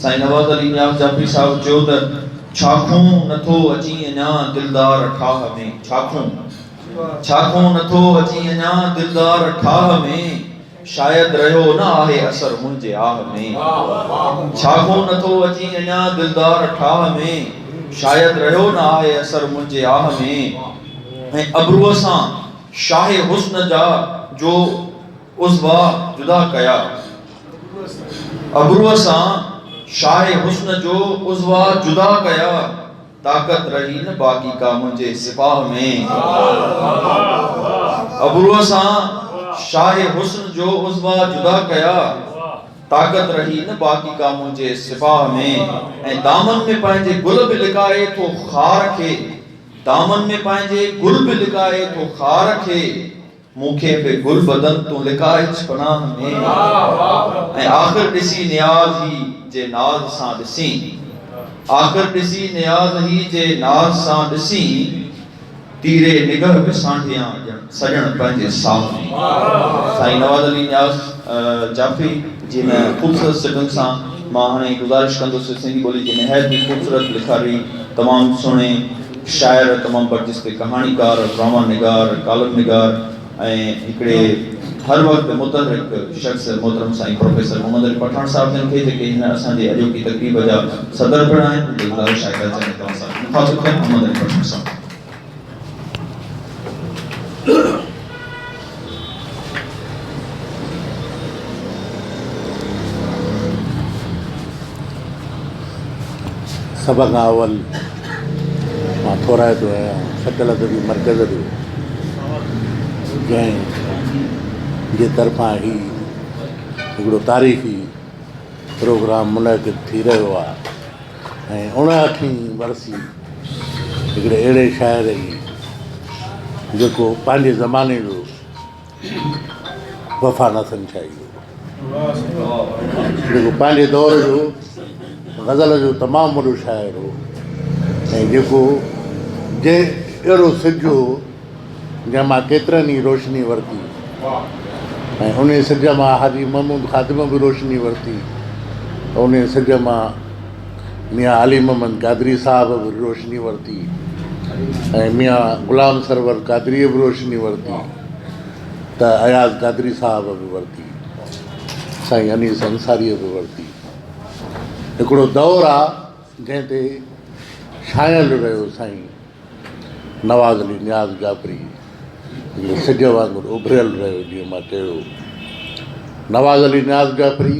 سائين نواز علي نياز جعفري صاحب چيو ته ڇاکون نٿو اچين اڃا دلدار ٺاهه ۾ ڇاکون ڇاکون نٿو اچين اڃا دلدار ٺاهه ۾ شايد رهيو نه آهي اثر منهنجي آهه ۾ ڇاکون نٿو اچين اڃا دلدار ٺاهه ۾ شايد رهيو نه آهي اثر منهنجي آهه ۾ ۽ ابروء سان شاهه حسن جا جو عضوا جدا ڪيا ابروء سان شاهه حسن جو عضوا جدا ڪيا طاقت رهي نه باقي ڪا منهنجي سپاهه ۾. ابروء سان شاهه حسن جو عضوا جدا ڪيا طاقت رهي نه باقي ڪا منهنجي سپاهه ۾. ۽ دامن ۾ پنهنجي گل به لڪائي ٿو خار کي دامن ۾ پنهنجي گل به لڪائي ٿو خار کي. مون کي به گل بدن تون لڪائج پناهه ۾ ۽ آخر ڏسي نياز هي جي ناز سان ڏسين آخر ڏسي نياز هي جي ناز سان ڏسين تيري نگهه به سانڍيان ڄڻ سڄڻ پنهنجي ساز ۾. سائين نواز علي نياز جافي جي هن خوبصورت سٽن سان مان هاڻي گذارش ڪندس سنڌي ٻولي جي نهايت ئي خوبصورت لکاري تمام سهڻي شاعر، تمام برجسته ڪهاڻيڪار، ڊراما نگار، ڪالم نگار ۽ هڪڙي هر وقت متحرڪ شخص محترم سائين پروفيسر محمد علي پٺاڻ صاحب جن کي جيڪي هن اسان جي اڄوڪي تقريب جا صدر پڻ آهن هن جي گذارش آهي ته اچن ۽ توهان سان گڏ مخاطب ٿين محمد علي پٺاڻ صاحب. سڀ کان اول مان ٿورائتو آهيان سڪل ادبي مرڪز جو جنهن جي طرفان هي هڪڙو تاريخي پروگرام منعقد ٿي رهيو آهي ۽ اوڻهٺين ورسي هڪڙي اهڙي شاعر جي جيڪو پنهنجي زماني جو وفا نه سمجهائي هو جيڪو پنهنجي دور جو غزل جو تمام وڏو شاعر هو ۽ جيڪو جنهن اهڙو سج هو جنهن مان ڪيترن ئي روشني ورتي ۽ ان سج مان حاجي محمود خادم به روشني ورتي ان سج مان ميان علي محمد قادري صاحب به روشني ورتي ۽ ميان غلام سرور قادريء به روشني ورتي ته اياز قادري صاحب به ورتي سائين انيس انصاريء به ورتي هڪڙو دور آ جنهن تي ڇانيل رهيو سائين نواز علي نياز جعفري سج وانگر اڀريل رهيو جيئن مان چيو نواز علي نياز جعفري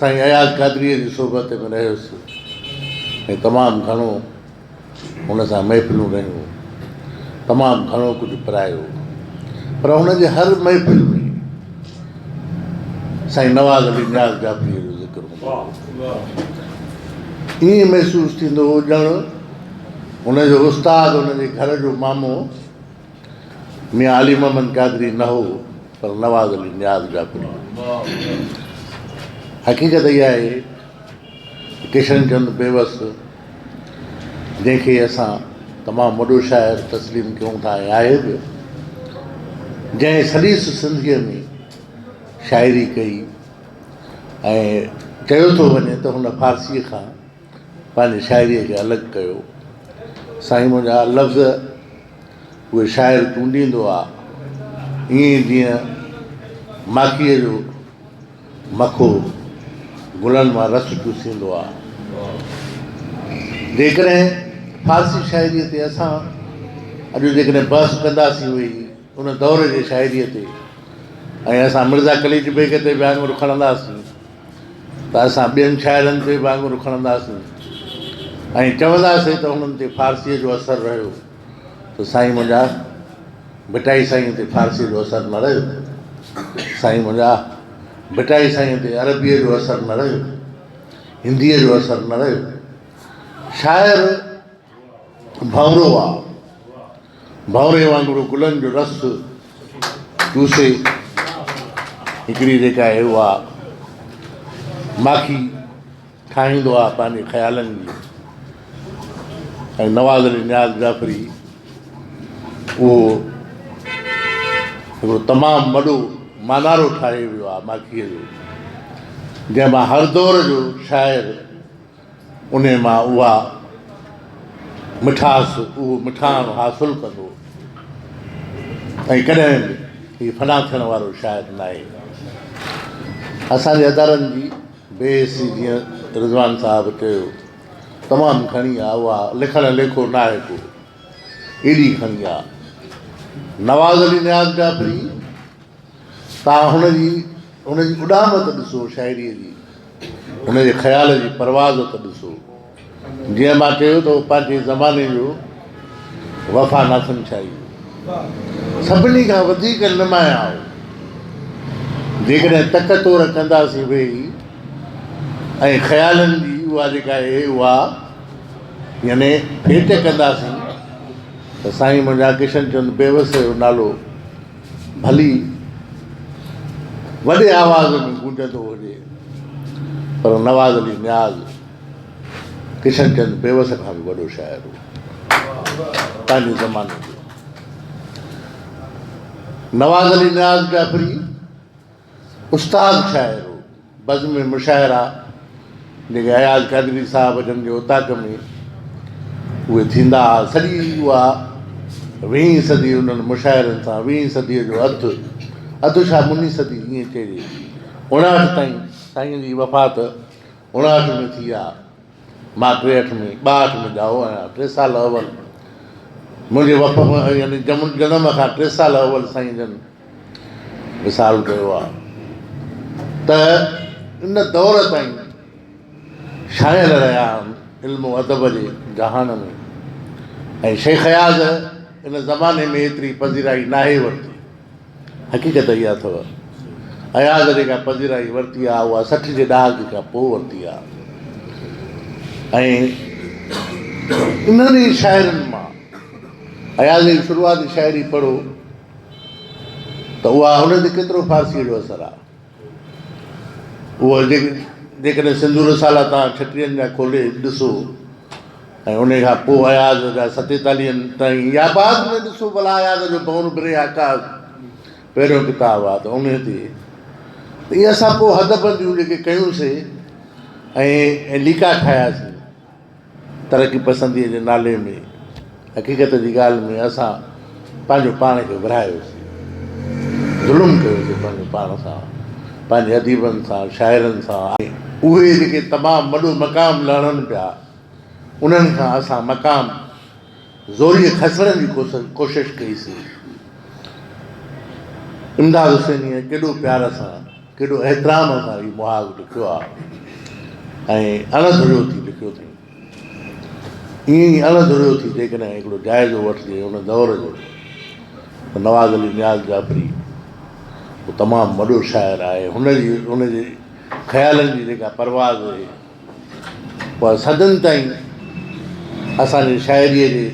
سائين اياز قادريء جي صحبت ۾ رهيس ۽ تمام گهڻو هن سان محفلون رهيون، تمام گهڻو ڪجهه پرايو، پر هن جي هر محفل ۾ سائين نواز علي نياز جعفريء جو ذڪر هوندو هو. ائين محسوس ٿيندو هو ڄڻ هن جو استاد هن جي گهر جو مامو ميان علي محمد قادري نه هو پر نواز علي نياز جاکوڙي هو. حقيقت اها آهي ته ڪشن چند بيوس جنهن کي اسان تمام وڏو شاعر تسليم ڪيون ٿا ۽ آهي به جنهن سليس سنڌيء ۾ شاعري ڪئي ۽ چيو ٿو وڃي ته هن فارسيء کان پنهنجي شاعريء کي الڳ ڪيو. سائين منهنجا لفظ اهي شاعر چونڊيندو آ، ائين ئي جيئن ماکيء جو مکو گلن مان رس چوسيندو آ. جيڪڏهن فارسي شاعريء تي اسان اڄ جيڪڏهن بحث ڪنداسين ويهي، ان دور جي شاعريء تي ۽ اسان مرزا قليچ بيگ تي به آڱر کڻنداسين ته اسان ٻين شاعرن تي به آڱر کڻنداسين ۽ چونداسين ته هنن تي فارسيء جو اثر رهيو ته سائين منهنجا ڀٽائي سائينء تي فارسيء جو اثر نه رهيو سائين منهنجا ڀٽائي سائينء تي عربيء جو اثر نه رهيو هنديء جو اثر نه رهيو شاعر ڀنورو آ ڀنوري وانگڙو گلن جو رس چوسي هڪڙي جيڪا اهي اها ماکي ٺاهيندو آ پنهنجي خيالن جي ۽ نواز علي نياز جعفري اهو هڪڙو تمام وڏو مانارو ٺاهي ويو آ ماکيء جو جنهن مان هر دور جو شاعر انهيء مان اها مٺاس، اهو مٺاڻ حاصل ڪندو ۽ ڪڏهن به هي فنا ٿيڻ وارو شاعر ناهي. اسان جي ادارن جي بي حسي جيئن رضوان صاحب چيو تمام گهڻي آ، اها لکڻ ليکو ناهي ڪو، ايڏي گهڻي آ. نواز علي نياز جعفري. تان هن جي هن جي اڏام ته ڏسو شاعريء جي هن جي خيال جي پرواز ته ڏسو جيئن مان چيو ته پنهنجي زماني جو وفا ناٿن شاهي هو سڀني کان وڌيڪ نمايان هو جيڪڏهن تڪ تور ڪنداسين ويهي ۽ خيالن جي اها جيڪا اي اها يعني ڀيٽ ڪنداسين ته سائين منهنجا ڪشن چند بيوس جو نالو ڀلي وڏي آواز ۾ گونجندو هجي پر نواز علي نياز ڪشن چند بيوس کان به وڏو شاعر هو پنهنجي زماني جو نواز علي نياز جعفري استاد شاعر هو. بزم مشاعرا جيڪي اياز قادري صاحب جن جي اوطاق ۾ اهي ٿيندا ها، سڄي اها ويهين صدي انهن مشاعرن سان، ويهين صديء جو اڌ، اڌ ڇا مني صدي ائين چئجي، اڻاٺ تائين، سائينء جي وفات اڻاٺ ۾ ٿي ها، مان ٽيهٺ ۾ ٻاهٺ ۾ ڄائو آهيان، ٽي سال اول منهنجي وفا يعني جنم کان ٽي سال اول سائين جن وصال ڪيو آهي ته ان دور تائين شاعر رهيا آهن علم و ادب جي جهان ۾ ۽ شيخ اياز ان زماني ۾ ايتري پذيرائي ناهي ورتي حقيقت اها اٿو اياز جيڪا پذيرائي ورتي آهي اها سٺ جي ڏهاڪي کان پوء ورتي آهي ۽ انهن ئي شاعرن مان اياز جي شروعاتي شاعري پڙهو ته اها هن تي ڪيترو فارسيء جو اثر آهي. اهو جيڪڏهن سنڌو رسالا توهان ڇٽيهن جا کولي ڏسو ۽ انهيء کان پوء اياز جا ستيتاليهن تائين يا بعد ۾ ڏسو ڀلا اياز جو دون بري عڪاس پهريون ڪتاب آهي ته انهيء تي ته اهي اسان پوء حد بنديون جيڪي ڪيون سي ۽ ليڪا ٺاهيا سي ترقي پسنديء جي نالي ۾ حقيقت جي ڳالهه ۾ اسان پنهنجو پاڻ کي ورهايوسين، ظلم ڪيوسين پنهنجو پاڻ سان، پنهنجي اديبن سان، شاعرن سان ۽ اهي جيڪي تمام وڏو مقام لهڻن پيا انهن کان اسان مقام زوريء کسڻ جي ڪوشش ڪئي سي. امداد حسينيء ڪيڏو پيار سان، ڪيڏو احترام سان هي محاذ لکيو آ ۽ اڻ ڌريو ٿي لکيو اٿئين. ائين ئي اڻ ڌريو ٿي جيڪڏهن هڪڙو جائزو وٺجي ان دور جو ته نواز علي نياز جعفري تمام وڏو شاعر آهي. هن جي ان جي خيالن جي جيڪا پرواز پر صدين تائين اسان جي شاعريء جي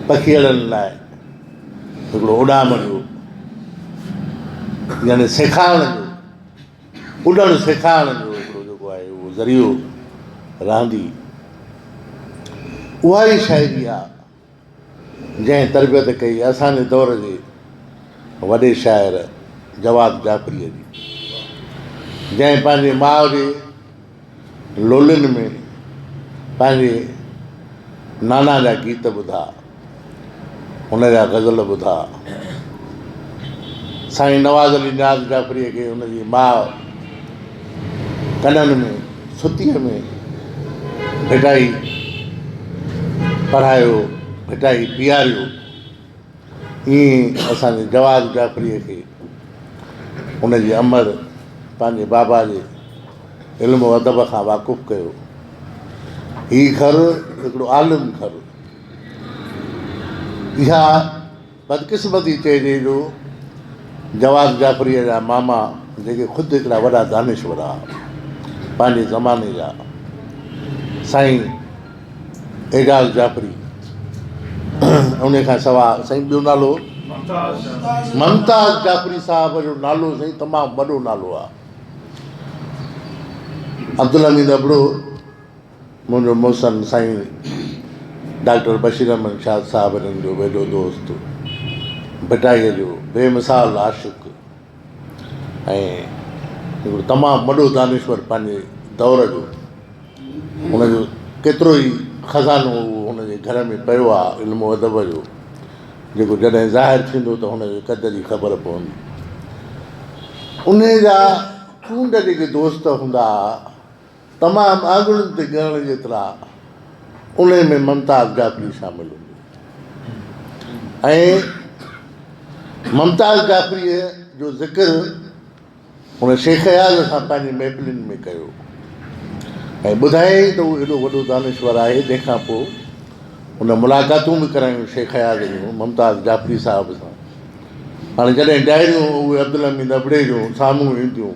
پکيئڙن لاء هڪڙو اڏام جو يعني سيکاڻ جو اڏڻ سيکاڻ جو هڪڙو جيڪو آهي اهو ذريعو رهندي. اها ئي شاعري آهي جنهن تربيت ڪئي اسان جي دور جي وڏي شاعر جواد جعفريء جي، جنهن پنهنجي ماء جي لولين ۾ پنهنجي نانا جا گيت ٻڌا، هن جا غزل ٻڌا. سائين نواز علي نياز جعفريء کي هن جي ماء ڪنن ۾ سوتيء ۾ ڀٽائي پرهايو، ڀٽائي پياريو، ائين اسان جي جواز جعفريء کي ان جي امڙ پنهنجي بابا جي علم و ادب کان واقف ڪيو. هي گهر هڪڙو عالم گهر. اها بدقسمتي چئجي جو جواز جعفريء جا ماما جيڪي خود هڪڙا وڏا دانشور ها، پنهنجي زماني جا سائين اعجاز جعفري ان کان سواء سائين ٻيو نالو ممتاز جعفري صاحب جو نالو سائين تمام وڏو نالو ها. عبدالحميد ابڙو منهنجو محسن سائين ڊاڪٽر بشير احمد شاد صاحبرحن جو ويجهو دوست، ڀٽائيء جو بي مثال عاشق ۽ هڪڙو تمام وڏو دانشور پنهنجي دور جو ان جو ڪيترو ئي خزانو اهو هن جي گهر ۾ پيو آ علم و ادب جو جيڪو جڏهن ظاهر ٿيندو ته هن جي قد جي خبر پوندي. انهيء جا چونڊ جيڪي دوست هوندا آ. تمام آڱرين تي ڳڻڻ جيترا انهي ۾ ممتاز جعفري شامل هوندي ۽ ممتاز جعفريء جو ذڪر هن شيخ اياز سان پنهنجي محفلين ۾ ڪيو ۽ ٻڌايائين ته هو هيڏو وڏو دانشور آهي جنهن کان پوء هن ملاقاتون به ڪرايون شيخ اياز جون ممتاز جعفري صاحب سان هاڻي جڏهن ڊائريون اهي عبدالحميد ابڙي جون سامهون اينديون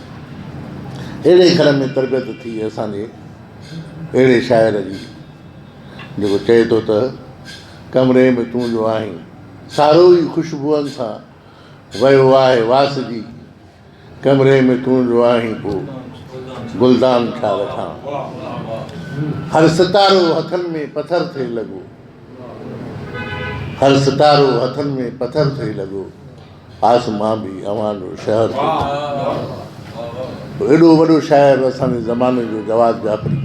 اهڙي گهر ۾ تربيت ٿي اسان جي اهڙي شاعر جي جيڪو چئي ٿو ته ڪمري ۾ تون جو آهين سارو ئي خوشبوئن سان ويو آهي واس جي ڪمري ۾ تون جو آهين پو گلدان ڇا رکان هر ستارو هٿن ۾ پٿر ٿئي لڳو هر ستارو هٿن ۾ پٿر ٿئي لڳو آس مان به اوهان جو شهر ٿو ٿيان. ايڏو وڏو شاعر اسان جي زماني جو جواد جعفري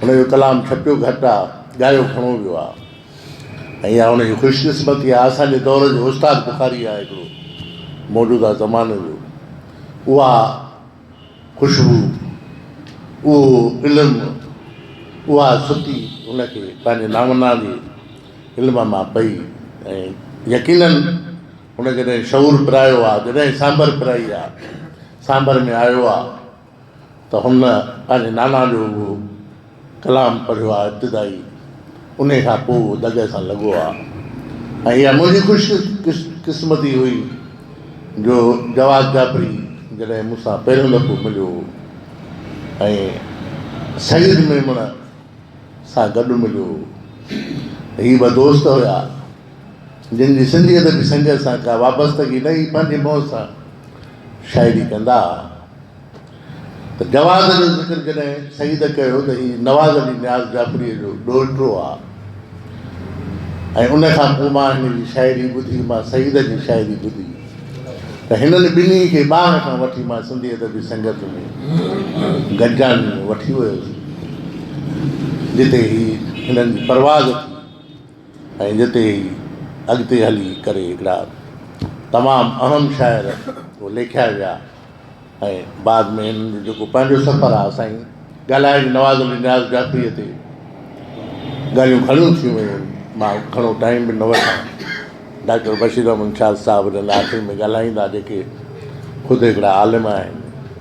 ان جو ڪلام ڇپيو گهٽ آ ڳايو گهڻو ويو آ ۽ اها ان جي خوش قسمتي آ اسان جي دور جو استاد بخاري آ هڪڙو موجوده زماني جو اها خوشبو، اهو علم، اها ستي هن کي پنهنجي نامنا جي علم مان پئي ۽ يقينن هن جڏهن شعور پرايو آهي، جڏهن سانڀر پرائي آهي، سانڀر ۾ آيو آهي ته هن پنهنجي نانا جو اهو ڪلام پڙهيو آ ابتدائي انهي کان پوء دڳ سان لڳو آ ۽ اها منهنجي خوش قسمتي هئي جو جواد جعفري جڏهن مون سان پهريون دفعو مليو هو ۽ سيد ميمڻ سان گڏ مليو هو هي ٻه دوست هيا جن جي سنڌي ادبي سنگت سان ڪا وابستگي نه هئي پنهنجي مون سان شاعري ڪندا ته جواز جو ذڪر جڏهن سيد ڪيو ته هي نواز علي نياز جعفريء جو ڏوهٽو آ ۽ ان کان پوء مان هن جي شاعري ٻڌي، مان سيد جي شاعري ٻڌي ته هنن ٻنهي کي ٻانهن کان وٺي مان سنڌي ادبي سنگت ۾ گڏجاڻي ۾ وٺي ويس جتي هي هنن جي پرواز ٿي. ۽ ان تي ئي اڳتي هلي ڪري هڪڙا تمام اهم شاعر ليکيا ويا ۽ بعد ۾ هنن جو جيڪو پنهنجو سفر آهي سائين ڳالهائي جو نواز علي نياز جعفريء تي ڳالهيون گهڻيون ٿيون ويون آهن مان گهڻو ٽائيم به نه وٺان ڊاڪٽر بشير احمد شاد صاحب هن آخر ۾ ڳالهائيندا جيڪي خود هڪڙا عالم آهن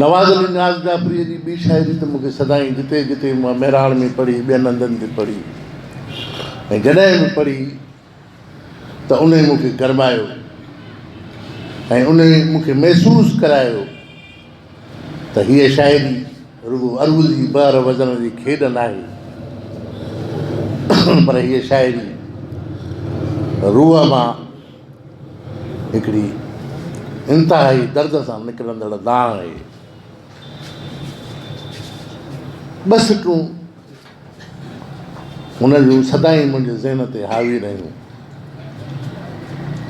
نواز علي نياز جعفريء جي ٻي شاعري ته مون کي سدائين جتي جتي مون مهراڻ ۾ پڙهي، ٻين هنڌن تي پڙهي ۽ جڏهن به پڙهي ته انهي مون کي گرمايو ۽ انهي مون کي محسوس ڪرايو ته هيء شاعري رڳو عروضي بحر وزن جي کيڏ ناهي پر هيء شاعري روح مان هڪڙي انتهائي درد سان نڪرندڙ دانهن هئي. ٻه سٽون هن جون سدائين منهنجي ذهن تي حاوي رهيون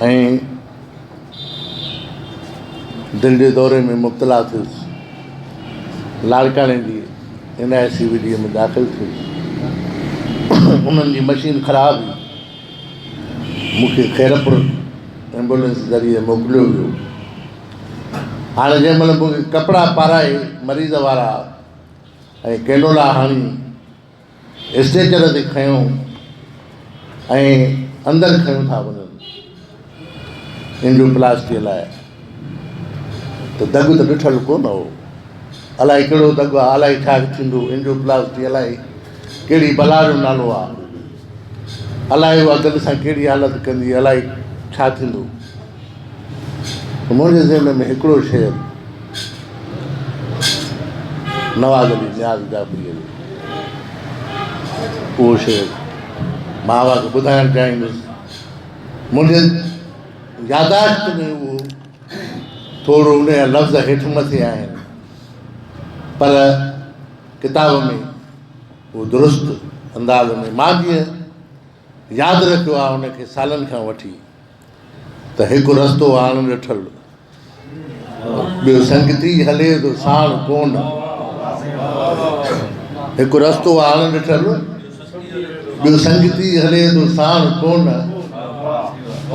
۽ دل جي دوري ۾ مبتلا ٿيس. لاڙڪاڻي جي N I C V D ۾ داخل ٿيس. انهن جي مشين خراب هئي. مون کي خيرپور ايمبولينس ذريعي موڪليو ويو. هاڻي جنهن مهل مون کي ڪپڙا پارائي مريض وارا ۽ ڪينڊولا هڻي اسٽريچر تي کنيو ۽ اندر کنيو ٿا وڃن. اينڊوپلاسٽيء لاء ته دڳ ته ڏٺل ڪو نه هو. الائي ڪهڙو دڳ آ، الائي ڇا ٿيندو، اينڊوپلاسٽي الائي ڪهڙي بلا جو نالو آ، الائي اها دڳ سان ڪهڙي حالت ڪندي، الائي ڇا ٿيندو. منهنجي ذهن ۾ هڪڙو شعر نواز علي نياز جعفريء جو اهو شعر مان اوهان کي ٻڌائڻ چاهيندس. منهنجي ياداشت ۾ اهو ٿورو ان جا لفظ هيٺ مٿي آهن پر ڪتاب ۾ اهو درست انداز ۾ مان جيئن ياد رکيو آهي ان کي سالن کان وٺي ته هڪ رستو آڻ ڏٺل ٻيو سنگتي هلي ٿو ساڻ ڪونڊ. هڪ رستو آ اڻ ڏٺل، ٻيو سنگتي هلي ٿو ساڻ ڪونڊ.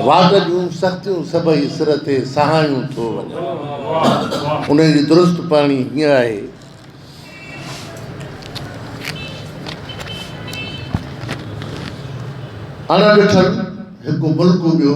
واٽ جون سختيون سڀئي سر تي سهايون ٿو وڃن. ان جي درست پڙهڻي هيئن آهي. اڻ ڏٺل هڪ ملڪ ٻيو.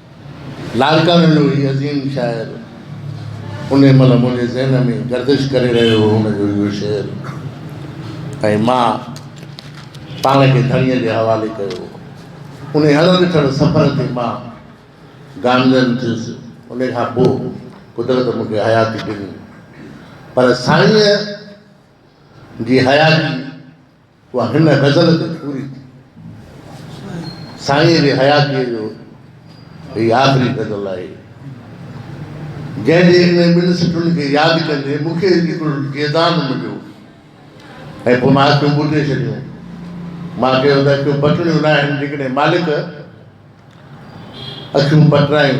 لال ڪانو جو هي عظيم شاعر انهي مهل منهنجي ذهن ۾ گردش ڪري رهيو هو هن جو اهو شعر ۽ مان پاڻ کي ڌڻيء جي حوالي ڪيو انهي هلندي ٿڙ سفر تي مان گامزن ٿيس انهي کان پوء قدرت مون کي حياتي ڏني پر سائينء جي حياتي اها هن غزل جي پوري ٿي. سائينء جي حياتيء جو هي آخري غزل آهي، جنهن جي انهن ٻن سٽن کي ياد ڪندي مون کي هڪڙو جيدان مليو ۽ پوء مان اکيون ٻوٽي ڇڏيون. مان چيو ته اکيون پٽڻيون ناهن، جيڪڏهن مالڪ اکيون پٽرائين.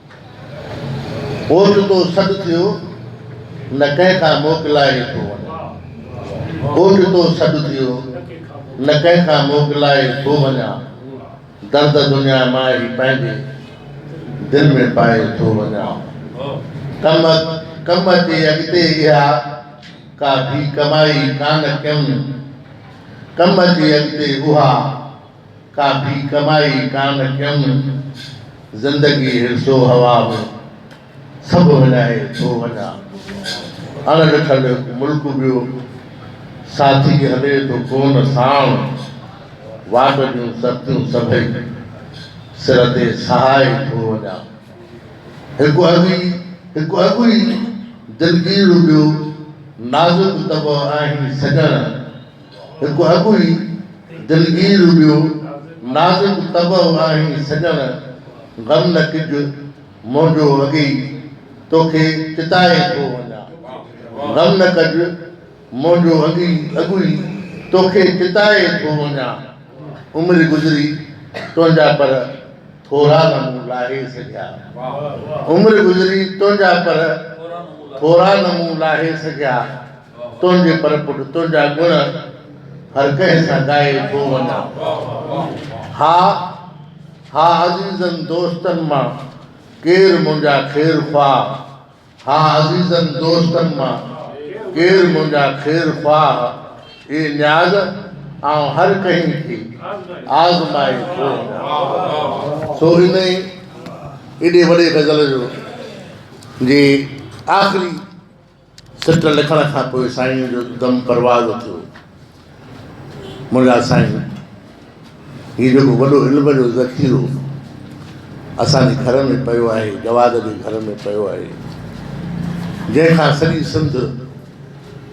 اوچتو سڏ ٿيو نه ڪنهن کان موڪلائي ٿو وڃان اوچتو سڏ ٿيو نه ڪنهن کان موڪلائي ٿو وڃان درد دنيا مان هي پنهنجي دل ۾ پائي ٿو وڃان ڪم ڪم اچي اڳتي اها ڪا ڌي ڪمائي ڪانه ڪيم ڪم اچي اڳتي اها ڪا ٻي ڪمائي ڪانه ڪيم، زندگي هرس و هوا ۾، سڀ وڃائي ٿو وڃان. اڻ ڏٺل هڪ ملڪ ٻيو، ساٿي هلي ٿو ڪونه ساڻ. واٽ جون سختيون سڀئي، سر تي سهائي ٿو وڃان. هڪ اڳي هڪ اڳي دلگير ٻيو، نازڪ طبع آهين سڄڻ. هڪ اڳ ئي دلگير ٻيو نازڪ طبع آهين سڄڻ غم نه ڪج منهنجو اڳي ئي توکي چتائي ٿو وڃان غم نه ڪج منهنجو اڳي اڳ ئي توکي چتائي ٿو وڃان عمر گذري تنهنجا پر ٿورا نه مون لاهي سگهيا عمر گذري تنهنجا پر ٿورا نه مون لاهي سگهيا. تنهنجي پر پٽ تنهنجا گڻ هر ڪنهن سان ڳائي ٿو وڃان. ها ها عزيزن دوستن مان ڪير منهنجا خير خواهه ها عزيزن دوستن مان ڪير منهنجا خير خواهه اي نياز آئون هر ڪنهن کي آزمائي ٿو وڃان. سو ان ئي ايڏي وڏي غزل جو جي آخري سٽ لکڻ کان پوء سائينء جو دم پرواز ٿيو. منهنجا سائين! هي جيڪو وڏو علم جو ذخيرو اسان جي گهر ۾ پيو آهي، جواد جي گهر ۾ پيو آهي، جنهن کان سڄي سنڌ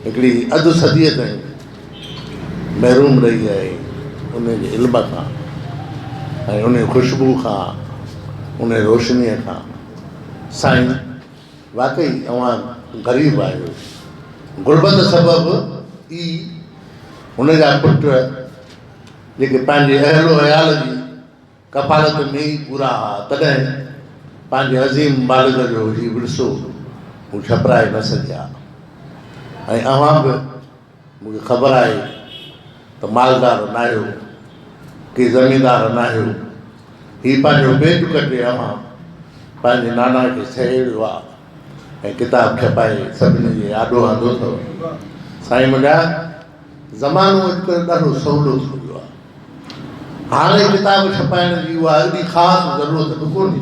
هڪڙي اڌ صديء تائين محروم رهي آهي، ان جي علم کان ۽ ان خوشبوء کان، ان روشنيء کان. سائين! واقعي اوهان غريب آهيو. غربت سبب ئي هن جا پٽ جيڪي پنهنجي اهل و عيال جي ڪفالت ۾ ئي پورا ها تڏهن پنهنجي عظيم والد جو هي ورثو هو ڇپرائي نه سگهيا ۽ اوهان به مون کي خبر آهي ته مالدار ناهيو، ڪي زميندار ناهيو، هي پنهنجو پيٽ ڪٽي اوهان پنهنجي نانا کي سهيڙيو آ ۽ ڪتاب ڇپائي سڀني جي آڏو آندو ٿئو. سائين منهنجا زمانو اڄڪلهه ڏاڍو سولو ٿي ويو آ. هاڻي ڪتاب ڇپائڻ جي اها ايڏي خاص ضرورت به ڪونهي.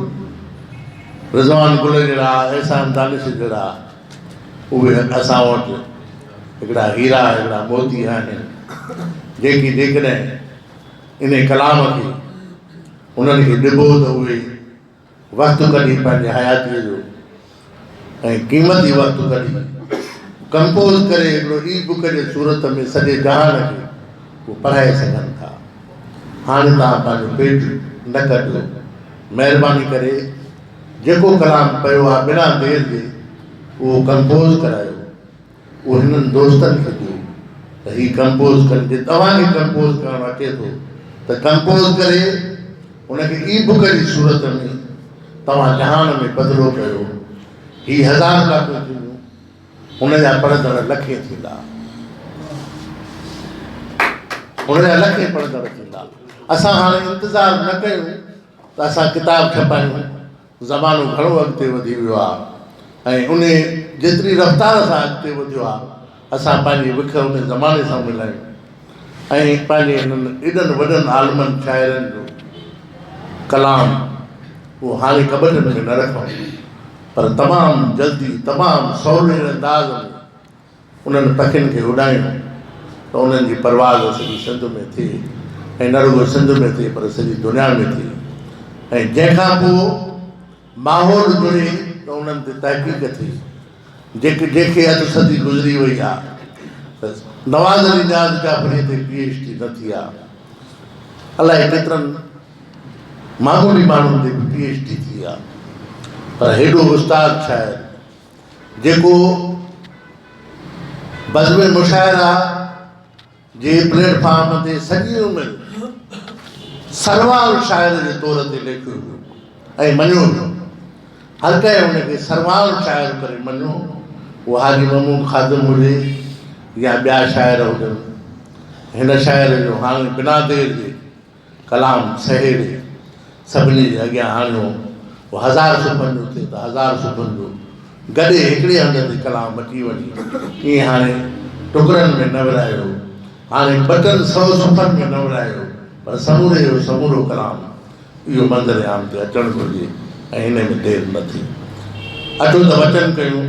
رضوان گل جهڙا، احسان دانش جهڙا، اهي اسان وٽ هڪڙا هيرا، هڪڙا موتي آهن، جيڪي جيڪڏهن انهي ڪلام کي انهن کي ڏبو ته اهي وقت ڪڍي پنهنجي حياتيء جو ۽ قيمتي وقت ڪڍي ڪمپوز ڪري هڪڙو اي بڪ جي صورت ۾ سڄي جهان کي اهو پڙهائي سگهن ٿا. هاڻي توهان پنهنجو پيٽ نه ڪڍو. مهرباني ڪري جيڪو ڪلام پيو آ بنا دير جي اهو ڪمپوز ڪرايو اهو هنن دوستن کي ڏيو ته هي ڪمپوز ڪن جي توهان کي ڪمپوز ڪرڻ اچي ٿو ته ڪمپوز ڪري ان کي اي بڪ جي صورت ۾ توهان جهان ۾ بدلو ڪيو هي هزار ڪاپيون ٿينديون هن جا پڙهندڙ لکين ٿيندا هن جا لکين پڙهندڙ ٿيندا اسان هاڻي انتظار نه ڪيون ته اسان ڪتاب ڇپايون، زمانو گهڻو اڳتي وڌي ويو آ ۽ انهي جيتري رفتار سان اڳتي وڌيو آ اسان پنهنجي وک انهي زماني سان ملايون ۽ پنهنجي انهن ايڏن وڏن عالمن شاعرن جو ڪلام اهو هاڻي ڪٻٽ ۾ نه رکون پر تمام جلدي تمام سولي انداز ۾ انهن پکين کي اڏايون ته انهن جي پرواز سڄي سنڌ ۾ ٿئي ۽ نه رڳو سنڌ ۾ ٿئي پر سڄي دنيا ۾ ٿئي ۽ جنهن کان پوء ماحول جڙي ته انهن تي تحقيق ٿئي جيڪي جنهن کي اڌ صدي گذري وئي آ ته نواز علي نياز جعفري تي پي ايڇ ڊي نه ٿي آ الائي ڪيترن معمولي ماڻهن تي به پي ايڇ ڊي ٿي آ پر هيڏو استاد شاعر جيڪو بزم مشاعره جي پليٽ فارم تي سڄي عمر سروان شاعر جي طور تي ليکيو ويو ۽ مڃيو ويو هر ڪنهن ان کي سروان شاعر ڪري مڃيو اهو حاجي محمود خادم هجي يا ٻيا شاعر هجن هن شاعر جو هاڻي بنا دير جي ڪلام سهيڙي سڀني جي اڳيان آڻيو هو هزار صبحن جو ٿئي ته هزار صبحن جو گڏي هڪڙي هنڌ تي ڪلام مٽي وڃي ائين هاڻي ٽڪرن ۾ نه ورهايو هاڻي ٻه ٽن سو صفحن ۾ نه ورهايو پر سموري جو سمورو ڪلام اهو منظر عام تي اچڻ گهرجي ۽ ان ۾ دير نه ٿي اچو ته وچن ڪيون